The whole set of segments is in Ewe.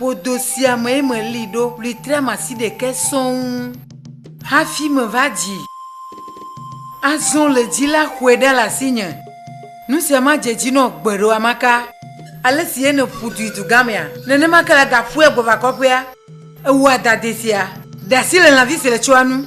Ƒodo sia mee meli ɖo litriam asi ɖekɛ sɔŋ hafi meva dzi. Azɔ le dzi la xɔe ɖa le asinye. Nu sia ma dze dzi nɔ gbeɖe amaka. Ale si Ene ƒu du yi dugamea, nenema ke la gaƒue gbɔ va kɔƒea. Ewɔa dade sia ɖe asi le lãvi si le tsɔa nu.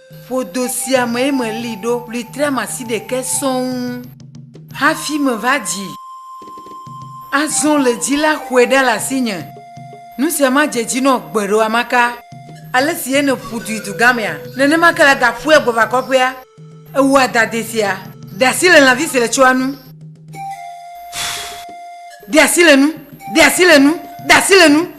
Ƒodo sia mee meli ɖo litriam asi ɖekɛ sɔŋ hafi meva dzi. Azɔ le dzi la xɔe ɖa le asinye. Nu sia madze dzi nɔ gbeɖe amaka. Ale si ene ƒudui dugamea, nenema ke la gaƒue gbe va kɔƒea. Ewɔa dade sia. De asi le lãvi si le tsɔa nu. De asi le nu. De asi le nu. De asi le nu.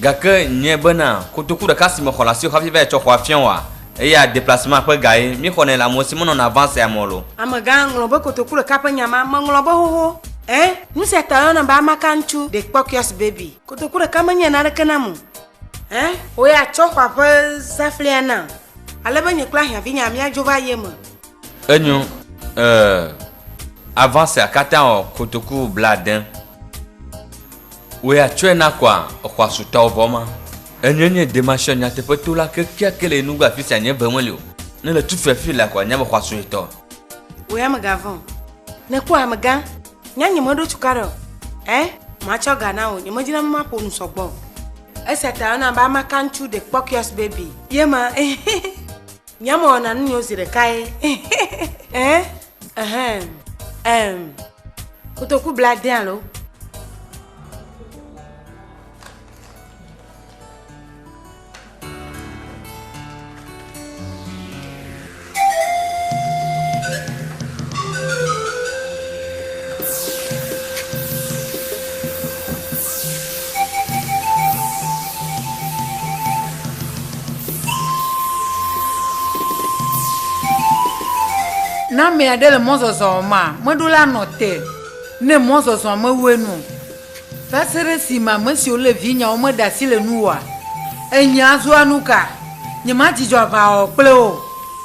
Gake nyɛ bena kotoku ɖeka si me xɔ le asiwò hafi va yi tsɔ xɔa fiã wòa? Eya deplacement ƒe gaye mi xɔnɛ le amewo si menɔna avant sea me o lo. Amegã ŋlɔ be kotoku ɖeka ƒe nya ma meŋlɔ be xoxo. Ẽ, nu sia ta woyɔna be amaka ŋutsu, the Kpɔkiɔs baby. Kotoku ɖeka menye naneke nam o. Ẽ, wò ya tsɔ xɔa ƒe zãflia nam ale be nye kple ahiãvinyaa míadzo va ye me. Enyo, euh, avance akatã ɔ kotoku blaade. Wòe atsɔɛ na kɔa exɔasutɔwo vɔ ma. Enyɔɛ nye Demasiɔ nyateƒe to la kekeake le Enugu afisia nye ŋe meli o. Ne le tufi afii la kɔa nya be xɔa sue tɔ. Wòe amegã vɔ. Ne kpɔa amegã, nya nye me ɖo tuka ɖe o. Ɛɛ, ma tsɔ ga na wò, nye me dzina be ma ƒo nu sɔgbɔ o. Esia ta yɔna be amakantsu de kpɔkuiɔs baby. Ye ma, eh, eh, eh. Nye ame wɔna nu nyo zi ɖeka ye. Eh, ehem, em, kotoku bla de alo. Ne ame aɖe le mɔzɔzɔ ma meɖo la nɔ te ne mɔzɔzɔ me wu enu o. Va se ɖe esime ame siwo le vinyeawo meɖe asi le nuwòa? Enyea zua nuka? Nyemadzidzɔ aʋawɔwɔ kple wo o.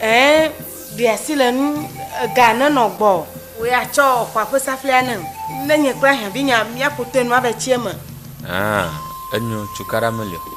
Ẽ, ɖe asi le nu ga nenɔ gbɔ. Wò ya tsɔ xɔa ƒe saflia nem. Ne nye kple ahiãvinya míaƒo toe nua be tsie me. Ã, enyo, cukaɖa meli o.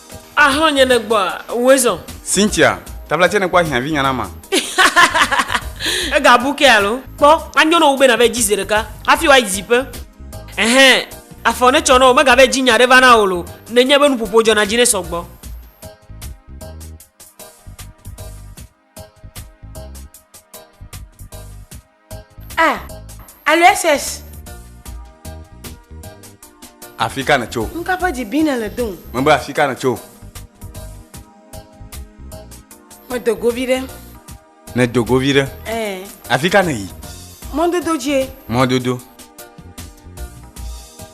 Ahlɔ̃ nye ne gbɔa, woe zɔn. Cynthia, tabla tsɛ nekpɔ ahiã vi nyana ma. Ega bu ke alo? Kpɔ, anyo nɔ wo be nava yi dzi zeɖeka hafi woayi dziƒe. Ɛhɛ, afɔ netsɔ nɔ wo, megava yi dzi nya ɖe va na wo lo, nenye be nuƒoƒo dzɔna dzi nɛ sɔgbɔ. Ah, alo SS. Afi ka nètso? N kapa dzi bi nèle do. Mebe afi ka nètso? Medo go vi ɖe. Nèdo go vi ɖe? Ɛɛ. Afi ka nèyi? Mɔdodo dzie. Mɔdodo.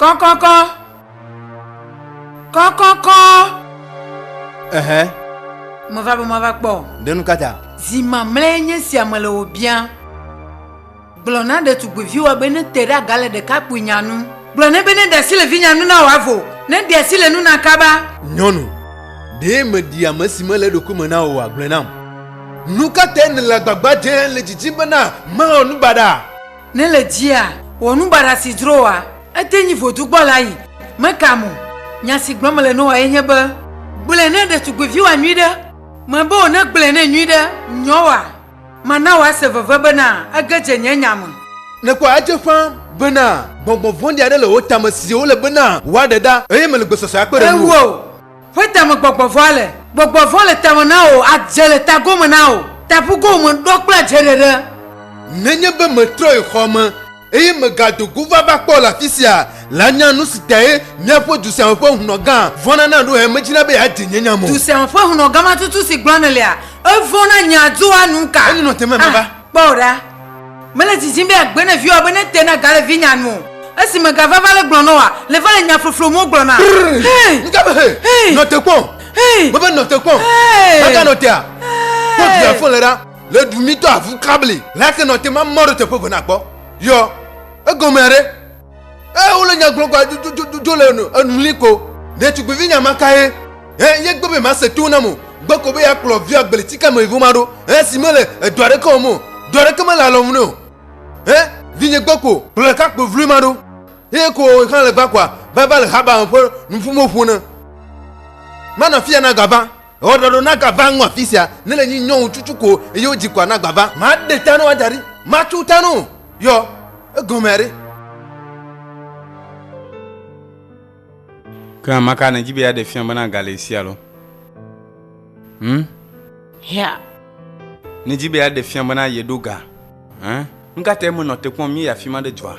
Kɔkɔkɔ. Kɔkɔkɔ. Ɛhɛ. Meva be mava kpɔ. Ɖenu kata. Zi mamlɛ nye sia me le wò bia. Gblɔ na ɖetugbiviwoa be nete ɖe aga le ɖekakpuinya nu. Gblɔ nɛ be neɖe asi le vinya nu na wòavo, neɖe asi le nu na kaba. Nyɔnu, Ɖe mèɖi ame si mele eɖokui me na o oa? Gblɔe nam. Nu ka tae nèle agbagba dzem le didim bena mawɔ nu baɖa? Ne le dzia, wɔ nu baɖa si dzro wòa. Ete nyi vodu gbɔ la yi. Mekam o. Nya si gblɔm mele na wòa ye nye be, gblɔe na ɖetugbiviwoa nyuiɖe. Mebe wò negblɔe nɛ nyuiɖe, nyɔwoa? Mana wòase veve bena ege dze nye nya me. Nèkpɔ edze ƒã bena gbɔngbɔn vɔ̃ɖi aɖe le wo tame si wole bena woaɖe ɖa, eye mele gbesɔsɔe akpe ɖe ŋuwò. Ewò, ƒe tame gbɔgbɔ vɔ̃a le. Gbɔgbɔ vɔ̃ le tame na wò, adze le tagome na wò, tabugo wò me ɖɔ kple adzeɖeɖe. Nenye be metrɔyi xɔa me. Eye mègado go va va kpɔ le afi sia la nya nu si tae míaƒe du sia me ƒe hlɔ̃gã vɔ̃na na ɖo he medina be yeadze nye nya me o. Du sia me ƒe hlɔ̃gã ma tutu si gblɔm nèlea, evɔ̃ na nya doa nu ka? Enyo nɔ te me meva. A, kpɔ ɖa, mele didim be yeagbe ne viwòa be nete na ga le vinyea nu o. Esi mègava va le gblɔ nɔ wòa, le va le nya floflo mo gblɔ na. Hey! Ŋga be hey! Hey! Nɔ te kpɔ! Hey! Mebe nɔ te kpɔ! Hey! Mega nɔ tea? Hey! Kpɔ du ya fɔ le ɖa. Le du mi to avu kabli. La ke nɔ te ma mɔɖo teƒe vena kpɔ. Yɔ, egɔme aɖe. E wole nya gblɔ gba jo jo jo jo le enu enu li ko. Ne tugbevi nya ma ka ye. E ye gbe be ma se to na mo. Gbe ko be ya kplɔ via gbeli tika me evo ma ɖo. E si me le edo aɖe ke o mo. Do aɖe ke me le alɔ mu ne o. E vi nye gbe ko kplɔ ka kpo vlui ma ɖo. Ye ko o kan le gba kwa va va le haba ƒe nufumo ƒo ne. Ma na fia na gava. Ewɔ ɖɔɖɔ na gava ŋu afi sia, ne le nyi nyɔwu cucu ko eye wo dzi kɔa na gbava. Ma de ta no wa dari, ma tu ta no yɔ, egɔme ari. Ke ma ka ne dzi be ya de fia be na gale sia lo? Hm? Hea. Ne dzi be ya de fia be na ye do ga. Hm? Nka te me nɔ te kpɔm mi ya fi ma de dzɔa?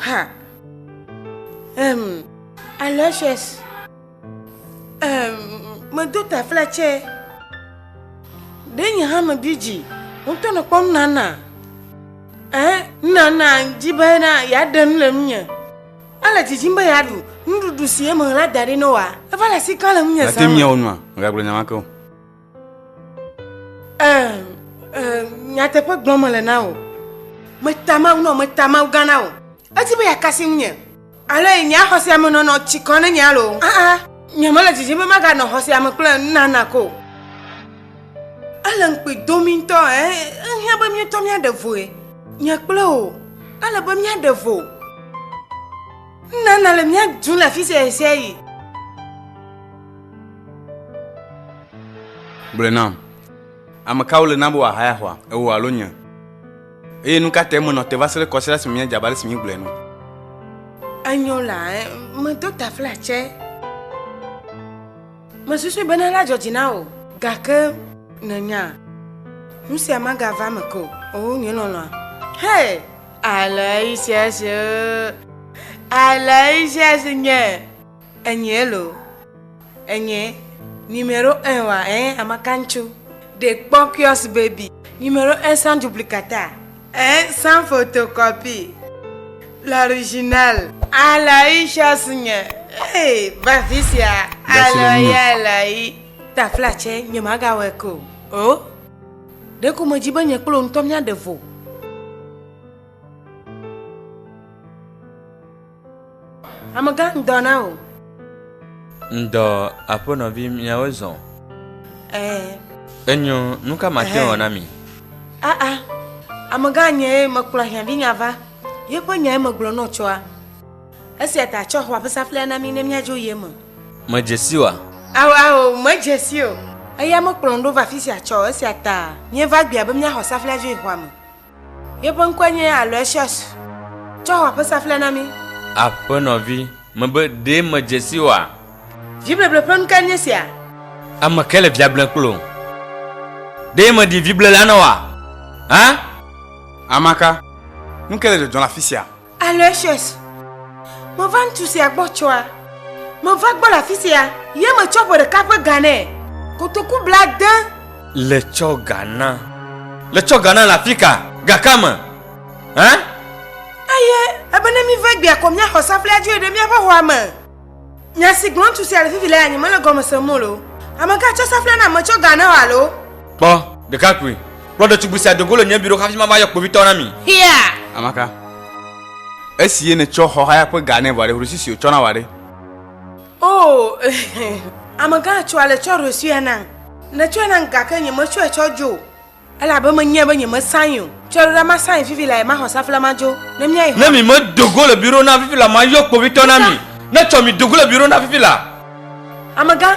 Ha. Ehm. Aloysius. medo tafla tsɛ ɖe nye hã mebi dzi ŋutɔ ne kpɔm nana ee nana dzi be na yeaɖe nu le ŋunye ele dzidzim be yeaɖu nuɖuɖu si eme la da ɖi ne wa eva le asi ka le ŋunye zã ate miawo nua megagblɔ nyama ke o nyateƒe gblɔm mele na o metamawu nɔ metamawu gã na o edi be yeakasi ŋunye ale nye xɔsea me nɔnɔ tsi kɔ ne nye alo aa ah, ah, nye mele dzidzim be maganɔ xɔsea me kple nana ko ele ŋkpe domi ŋutɔ ehiã be míetɔ míaɖe voe nye kple o ele be míaɖe vo nana le míadu le afi sia sia yi Gblɔe nam. Ame kawo le na be wòahaya xɔa? Ewò alo nye? Eye nu ka tae menɔ te va se ɖe kɔsiɖa esime míedze abe ale si míegblɔe ene? Enyo la, medo taflatse. Mesusui bene alé adzɔdzi na wò. Gake nènya, nusia magava eme ke o. Oo, nye lɔlɔ̃a. Hee! Alé ɣi sia ɣi si, oo, alé ɣi sia ɣi si nye. Enyee lo. Enyee. Numéro un wa ɛɛ amakaŋtsu ɖe kpɔ kiosk baby. Numéro un sans duplicata ɛɛ sans photocopie l'original. Aloysius nye ee va afisia alɔ ye Aloyi. Tafla tsɛ nye magawɔe ke o oo. Ɖeko medzi be nye kple wò ŋutɔ míaɖe vo. Amegã ŋdɔ na wò. Ŋdɔ aƒenɔvi miawo zɔ. Ɛɛ. Enyo, nu ka mate ŋu wɔ na mi? Aa, amegã nyee mekplɔ ahiãvinya va, yeƒe nyae megblɔ nɔ tsɔa. Esia ta tsɔ xɔa ƒe saflia na mí ne míadzo ye me. Medze si oa? Ao, ao, medze si o. Eya mekplɔm ɖo va afisia tsɔ o, esia ta míeva gbea be míaxɔ saflia dzo yi xɔa me. Yeƒe ŋkɔe nye Aloysius. Tsɔ xɔ ƒe saflɛ na mí. Aƒenɔvi, mebe ɖe medze si oa? Vibleble ƒe nu kae nye sia? Ame kae le via blem kple wò? Ɖe mèɖi viblela na wòa hã? Amaka, nu kae le dzɔdzɔm le afisia? Aloysius, meva ŋutsu sia gbɔ tsɔa. Meva gbɔ le afi sia. Ye metsɔ ƒe ɖeka ƒe ga nɛ. Kotoku blade. Le tsɔ ga na. Le tsɔ ga na le afi ka? Ga ka me? Hã? Eye ebe ne míva egbea ko míaxɔ saflea dzoe ɖe míaƒe xɔa me. Nya si gblɔ ŋutsu sia le fifi lea nye mele gɔme sem o loo. Ame ka tsɔ safla nam metsɔ ga ne o alo? Kpɔ, ɖekakpui, kplɔ ɖetugbui sia do go le nye biɖo hafi mava yɔ kpovitɔwo na mi. Hiya! Amaka, esi ye nètsɔ xɔ haya ƒe ga nɛ vɔ ɖe hrusi si wòtsɔ na wòa ɖe? Oo, amegã tsɔ ale tsɔ hrusia nam. Nètsɔe nam gake nyemetsɔe tsɔ dzo o. Elabe menyae be nyemesãe o. Tsɔɖoɖa masãe fifi lae maxɔ safla madzo. Ne míayi xɔa. Ne mi me do go le biro na fifi la, mayɔ kpovitɔ na mi. Ne tsɔ mi do go le biro na fifi la. Amegã,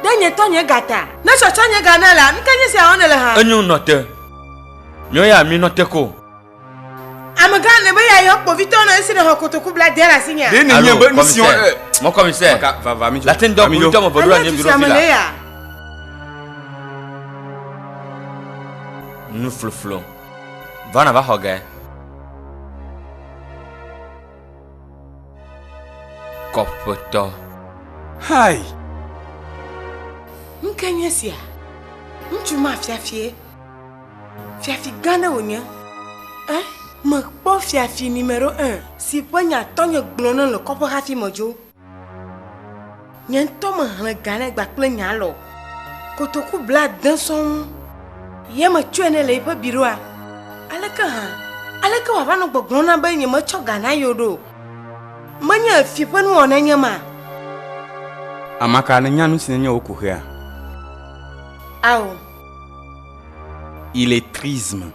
ɖe nye tɔ nye ga ta. Ne tsɔ tsɔ nye ga na la, nuka nye sia wɔm nèle hã? Enyo nɔte. Míɔ ya mi nɔte ko. Amegã ne be yeayɔ kpovitɔ nɔ esi nèxɔ kotoku bla de le asinye. Ɖe ne nye be nu si wɔm eh, mɔ kɔmisɛ. Vava mi tso. Lati ŋdɔ kpovitɔ me ʋeɖo anyi biro fi la. Nu floflo. Va na va xɔ ge. Kɔƒetɔ. Hai. Nke nye sia. Ŋutsu ma fiafie. Fiafi gã ɖe wònye. Eh, mekpɔ fiafi mi me ɖo eh, si ƒe nya tɔnye gblɔ ne le kɔƒe hafi medzo. Nye ŋutɔ mehlẽ ga ne gba kple nya lɔ. Kotoku bla de sɔŋ. Ye metsɔe ne le eƒe biroa. Aleke hã, aleke wòava nɔ gbɔgblɔ na be nye metsɔ ga na yewo ɖo? Menye fi ƒe nuwɔnae nye ma. Amaka, nènya nu si nenye wò ko xea? Ao. Illettrisme.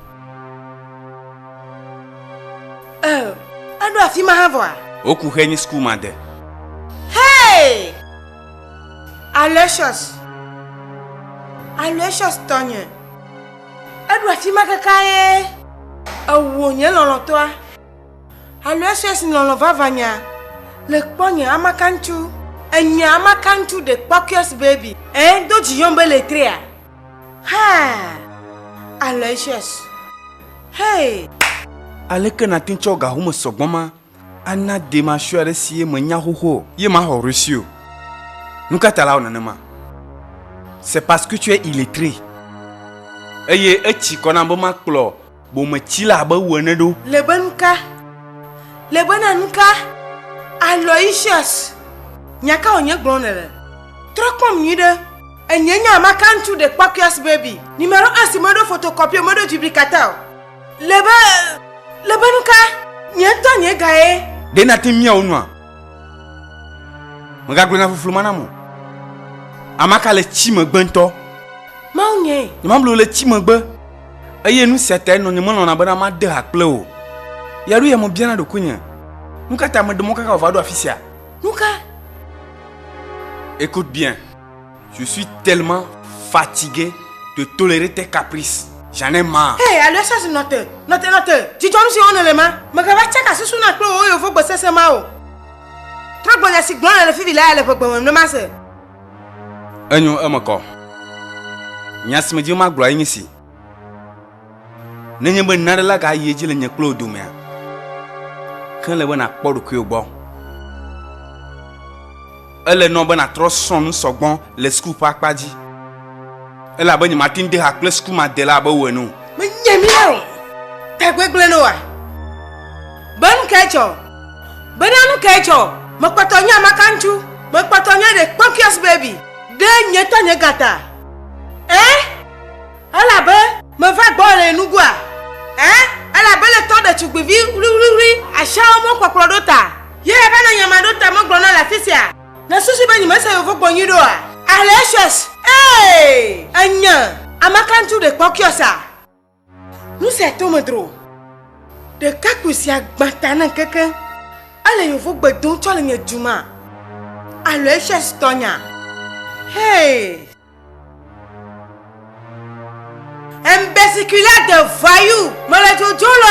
Euh, eɖo afi ma hã vɔa? Woku xe nyi school ma de. Hey! Aloysius. Aloysius tɔnye. Eɖo afi ma kaka ye. Ewo nye lɔlɔtɔa. Alo esia si lɔlɔ̃ vava nya le kpɔ nye amakantsu. Enye amakantsu de kpɔkuias baby. Eh, do dzi yɔm be letrea. Ha, Aloysius. Hey. Aleke nàte tsɔ ga home sɔgbɔ ma ana de masue aɖe si ye menya xoxo o? Ye maxɔ Russie o. Nu ka ta la wɔ nenema? C'est parce que tu es illettré. Eye etsi kɔ nam be makplɔ. bometsila abe wò ene ɖo. Lebenka, Lebena nuka? Aloysius, nya ka wònye gblɔm nèle? Trɔ kpɔm nyuiɖe. Enye nye amaka ŋutsu ɖekpɔkuias baby. Numero un si meɖo photocopie o, meɖo duplicata o. Lebe, lebe nuka? Nye ŋutɔ nye ga ye. Ɖe nàte mia wo nua? Megagblɔ nya floflo ma nam o. Amaka le tsi megbe ŋutɔ. Mawu nyee. Nyemablu le tsi megbe. eye nu sia tae nɔnye melɔ̃na bena made ha kple wò. Ya ɖo ya me biana ɖokuinye, nu ka ta meɖe mɔ kaka wòva ɖo afi sia? Nu ka? Écoute bien. Je suis tellement fatigué de tolérer tes caprices. J'en ai marre. Hé, Aloysius, nɔte, nɔte, nɔte. Dzidzɔ nu si wɔm nèle ma. Mègava tsaka susu na kple wò yovogbe sesẽ ma o. Trɔgbɔnya si gblɔm nèle fifi la ya le ʋegbe me nenema se. Enyo eme kɔ. Nya si medi be magblɔ enye si. Nenye be nane la gayi edzi le nye kple wò domea, ke le be nàkpɔ ɖokuiwò gbɔ. Ele nɔ be nàtrɔ srɔ̃ nu sɔgbɔ le suku ƒe akpa dzi. Elabe nyemate ŋu de ha kple sukumadela abe wò ene o. Menye mía o. Tagbegblẽ ne wa. Be nu kae tsɔ? Bena nu kae dzɔ? Mekpɔtɔ nye amakaŋutsu. Mekpɔtɔ nye the spunkiest baby. Ɖe nye tɔ nye gata? Ẽ? Elabe meva gbɔwò le nye nugua? Ẽ? Elabe le tɔ ɖetugbivi wliwliwli asiawo mɔkpɔkplɔ ɖo ta ye ebe ne nyemaɖo ta megblɔna le afisia? Nèsusu be nyemese yovogbo nyuiɖe oa? Alexious, Ee! Ènye amakaŋutsu the spunkiest a. Nu sia to me dro. Ɖekakpui sia gbã ta na keke. Ele yevo gbe dom tsɔ le nye duma. Aloysius tɔnya. Hey! Un biciculaire de voyou. Mele dzodzom le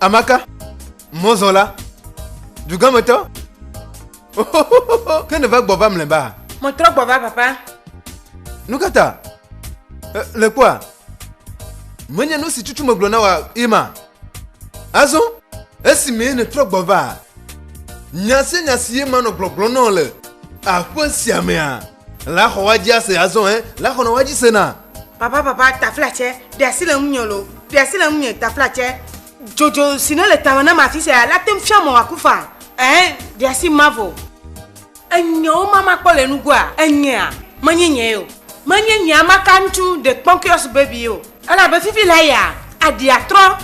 Amaka, mɔzɔla, dugãmetɔ, ke nèva gbɔ va mlɛba? Metrɔ gbɔ va, papa. Nu ka ta? Le kpɔa, menye nu si tutu megblɔ na wa ima. Azɔ, esimee nètrɔ gbɔ va, nya sia nya si ye manɔ gbɔgblɔ nɔ le aƒe sia mea, La xɔ wa jia se azɔ ɛ, la xɔ nɔ wa ji se na. Papa papa taflatsɛ ɖe asi le ŋunye lo ɖe asi le ŋunye taflatsɛ dzodzo si ne le tame nam afi sia la tem fia mɔ wa ku fa ɛ ɖe asi mavo enyewo ma ma kpɔ le nugoa enyea menye nye yo menye nyea ma ka ŋutsu de kpɔnkiɔs baby yo elabe fifi la ya adia trɔ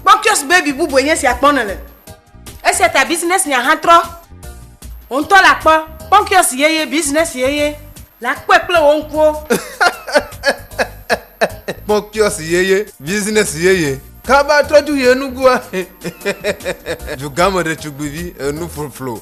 kpɔnkiɔs baby bubue nye sia kpɔ ne le. Esia ta Business Nya hã trɔ. Wò ŋutɔ la kpɔ Pɔnkiɔsi yeye, Business yeye, la kpɔe kple wò ŋkuwo. Pɔnkiɔsi yeye, Business yeye, kaba trɔ dzu yi enugua. Dugãmeɖetugbivi enuƒloplo.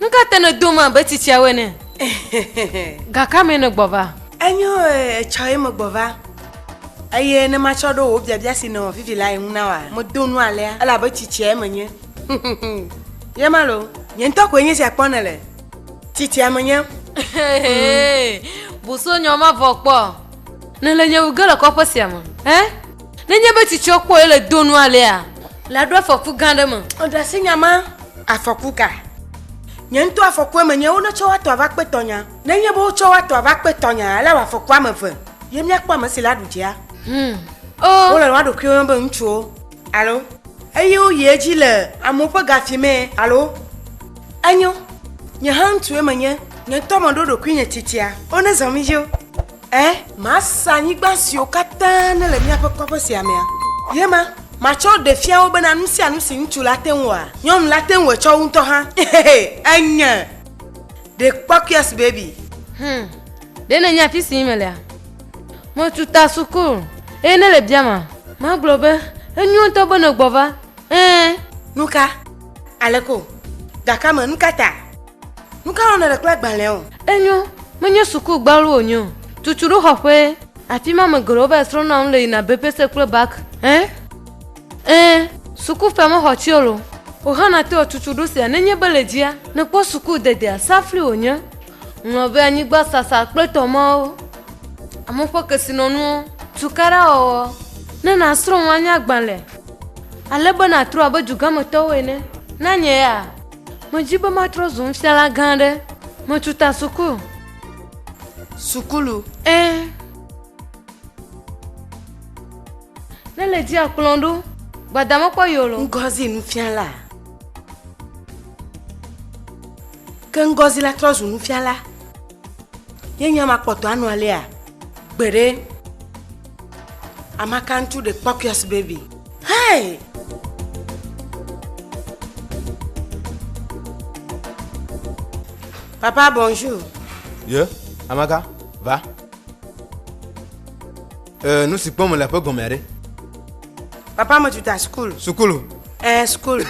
Nu ka te nèdom abe tsitsiawo ene? Ga ka mee nègbɔ va? Enyo etsɔ ye megbɔ va. Eye ne matsɔ ɖo wò biabia si nèwɔ fifi lae ŋu na wòa? Medo nu alea elabe tsitsiae menye. Ye ma loo. Nye ŋutɔ koe nye esia kpɔm nèle. Tsitsia menye. Bu so nyɔ mavɔ kpɔ. Nèle nye wu ge le kɔƒe sia me. Ẽ? Nenye be tsitsia kpɔ yele do nu alea, laɖo afɔku gã aɖe me. Èɖe asi nya ma? Afɔku ka? Nye ŋutɔ afɔkue menye wonetsɔ woatɔ ava kpe tɔnya. Nenye be wotsɔ woatɔ ava kpe tɔnya alawɔ afɔku ame eve ye míakpɔ ame si laɖu dzea? Hum. Oh. Wole woa ɖokuiwo me be ŋutsuwo, alo? Eye woyi edzi le amewo ƒe gafi mee, alo? Enyo. Nye hã ŋutsue menye. Nye ŋutɔ meɖo ɖokuinye tsitsia. Wo nezɔ mí dzo. Ẽ, masa anyigba siwo katã nele míaƒe kɔƒe sia mea. Ye ma, matsɔ ɖe fia wo bena nu sia nu si ŋutsu la te ŋu wɔa, nyɔnu la te ŋu etsɔ wu ŋutɔ hã. Enye ɖekpɔkuias baby. Hum, ɖe nènya afi si melea? Metu ta suku, eye ne le biama, magblɔ be, Enyo ŋutɔ be nègbɔ va. Ẽ. Nuka? Aleko? Gakame? Nukata? Nu ka nɔnɔ le kple agbalẽa o? Enyo, menye suku gbalo wònye o. Tutu ɖo xɔƒe. Afi ma ame geɖewo va yi srɔ̃na nu le yina BPC kple bac. Ẽ? Ẽ, suku ƒe mexɔ tsɛol o. O hã nate wɔ tutu ɖo sia nenye be le dzia nèkpɔ suku dedea, safli wònye. Ŋlɔ be anyigba sasa kple tɔ mawo, amewo ƒe kesinɔnuwo, tukaɖa wɔwɔ, ne nàsrɔ̃ nu anye agbalẽ, ale be nàtrɔ abe dugametɔwo ene. Na nye ya. Medi be matrɔ zu nufiala gã aɖe. Metu ta suku. Sukulu. Ẽ. Ne le dzi akplɔ ɖo. Gbada mekpɔ yolo. Ngozi nufiala. Ke Ngozi la trɔ zu nufiala. Ye nya makpɔtɔ anɔ alea. Gbeɖe. Amakantu the Papias baby. Hey! Papa, bonjour. Ye, Amaka, va. Euh, nous si kpɔm le aƒe gɔmea ɖe. Papa, me tu ta school. Sukulu. Eh, school.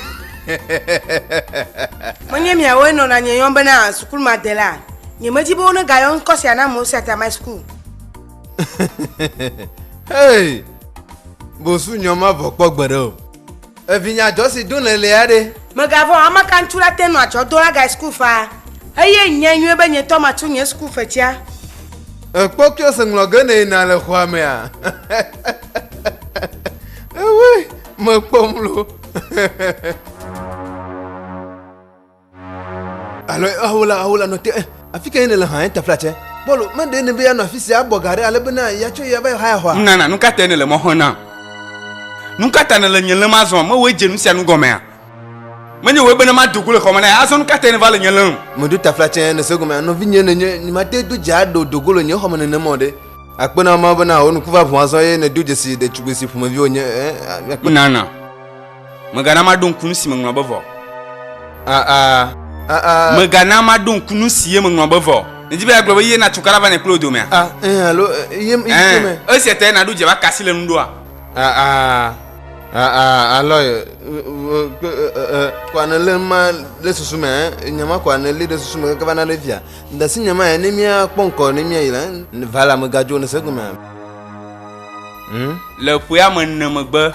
Menye miawoe nɔna nye yɔm bena sukulu ma de la. Nyemedi be wone gayɔ ŋkɔ sia na amewo sia ta my school. hey! Bosu nyɔ ma vɔ kpɔ gbe ɖe o. Evinya jɔ si dún le lea ɖe. Megavɔ ame ka ŋutsu la te nɔ atsɔ do agae school faa. Eye nyɛ nyuie be nyetɔ ma tsu nye school fetsia. Ekpɔ kio se ŋlɔ ge ne yina le xɔa mea. Ewe mekpɔ mlo. Alo ahola ahola nɔ te afi ka nèle hã tafla tsɛ. Paulo meɖe ne be anɔ afi sia abɔ ga ɖe ale be na yeatsɔ ya va yɔ haya xɔa. Nunana nu ka te nèle mɔ xɔm nam? Nu ka ta nèle nye lém azɔ? Mewɔe dze nu sia nu gɔmea? Menye wòe be ne mado go le xɔme na ye azɔ nu ka tae nèva le nye lém? Meɖo tafla tsɛ nèse gɔmea? Nɔvinye nènye, nyemate do dze aɖe o, do go le nye xɔme nenem o ɖe. Akpe na wò Mawu bena wò nuku va ʋu azɔ eye nèdo dzesi ɖetugbui si ƒomevi wònye. Nunana. Megana maɖo ŋku nu si meŋlɔ be vɔ. A a A a Megana maɖo ŋku nu si ye meŋlɔ be vɔ. Nèdi be yeagblɔ be ye na tukala va nɛ kple wò domea? a ɛn alo ɛ, ye ye Ɛn, me. esia tae nàɖo dze va ka si le nu ɖoa? A a A a Alo ɛ, ɛ, ɛ, ɛ, ɛ, kɔa nèlé ma ɖe susu me ɛ, nya ma kɔa nèlé ɖe susu me keke va na ɖe via. Dasi nya ma ɛ, ne míakpɔ ŋkɔ ne míayi la, vala megadzo nèse egomea? Hm? Le ƒe ame ene megbe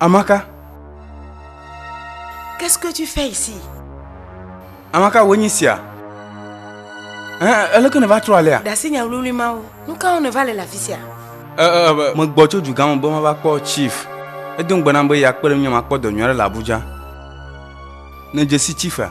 Amaka. Qu'est-ce que tu fais ici? Amaka, wòe nyi sia. Eleke nèva trɔ alea? Ɖe asi nya wluiwlui mawo. Nu kawo nèva le le afi sia? Megbɔ tso dugã me be mava kpɔ chief. Edo ŋugbe nam be yeakpe ɖe ŋunye makpɔ dɔ nyui aɖe le Abuja. Nèdze si chiefea?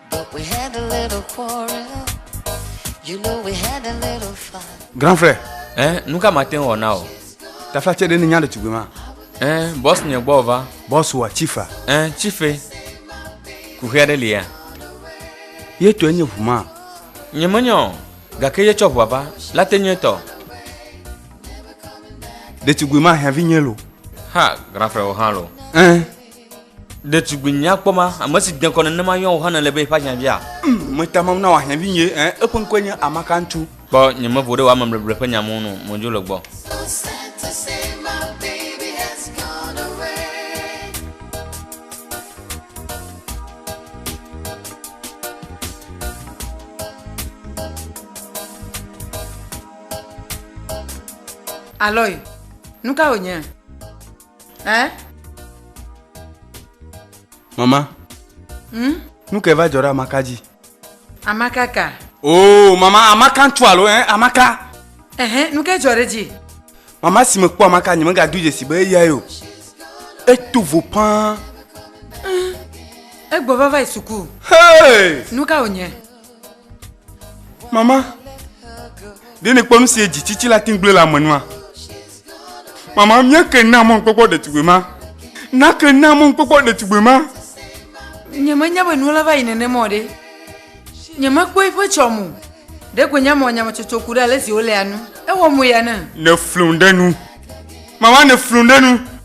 But we had a little quarrel. You know we had a little fight. Grand frère. Eh, nu ka ma te ŋu wɔ na o. Tafla tse ɖe ne nya ɖetugbui ma. Eh, bɔs nye gbɔ va. Bɔs wa chifa. Eh, chife. Kuxi aɖe li ya. Ye tɔe nye ʋu ma. Nye menye o. Gake ye tsɔ ʋua va. La te nye tɔ. Ɖetugbui ma hiãvi nye lo. Ha, grand frère wo hã lo. Eh. Ɖetugbui nyakpɔ ma, ame si dekɔ nenema yɔa wò hã nèle be yeƒe ahiãvia? Mm, meta mam na wò ahiãvi nye, eh, eƒe ŋkɔe nye Amakantu. Kpɔ nyemevo ɖe wò amebleble ƒe nya ŋu nu, modzo le gbɔ. Aloy, nu ka wònye? Eh? Mama. Hmm? Nu ke va dzɔ ɖe Amaka dzi? Amaka ka? Oh, mama, Amaka ŋutsu alo, eh? Amaka. Ehe, nu ke dzɔ ɖe dzi? Mama si mekpɔ Amaka nye megado dzesi be eyae o. Eto vo paa. Egbɔ va va yi suku. Hey! Nu ka wònye? Mama, ɖe nèkpɔ nu si edzi tsitsi la tin gblẽ le ame nua? Mama, míake na mɔ ŋkpɔkpɔ ɖetugbui ma. Nake na mɔ ŋkpɔkpɔ ɖetugbui ma. Nyemenya be nuwo la va yi nenema o ɖe. Nyemekpɔ eƒe tsɔme o. Ɖe koe nye amewɔ nyametsotso ku ɖe ale si wolea nu. Ewɔ moya nam. Nèflum ɖe nu. Mama, nèflum ɖe nu.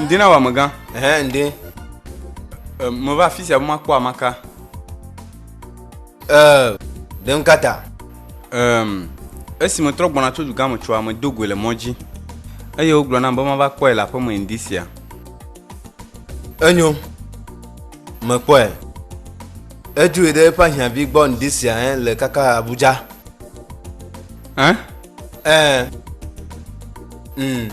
Ŋdi na wà megã. Ɛhɛ ŋdi. Meva afi sia be makpɔ amaka. Ɛɛ, ɖem kata. Ɛm, esi metrɔ gbɔna tso dugã me tsoa, medo goe le mɔ dzi. Eye wogblɔ nam be mava kpɔe le aƒe me ŋdi sia. Enyo, mekpɔe. Edoe ɖe eƒe ahiãvi gbɔ ŋdi sia le kaka Abuja. Hein? Ɛɛ. Mm.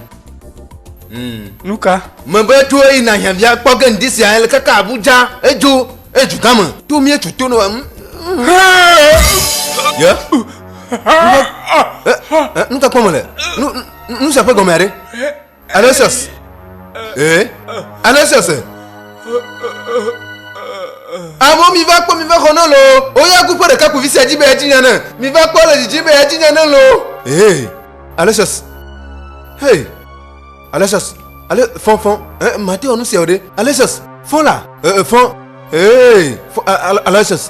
Mm. Nuka? Mebe to eyi na hiavia kpɔ ke ŋdi sia ele kaka Abuja edzo edu gã me. To mie tu to no em. Ye? Nu ka kpɔ me le? Nu nu sia ƒe gɔmea ɖe? Ananias, ee, Ananias, amewo mi va kpɔ mi va xɔ ne lo, woya ku ƒe ɖeka ku vi sia dzi be edzi nya ne, mi va kpɔ le dzidzi be edzi nya ne lo. Ee, Ananias, hey, Ananias, ale fɔ fɔ, eh, mate wɔ nu sia o ɖe, Ananias, fɔ la, eh, fɔ, ee, fɔ, Ananias.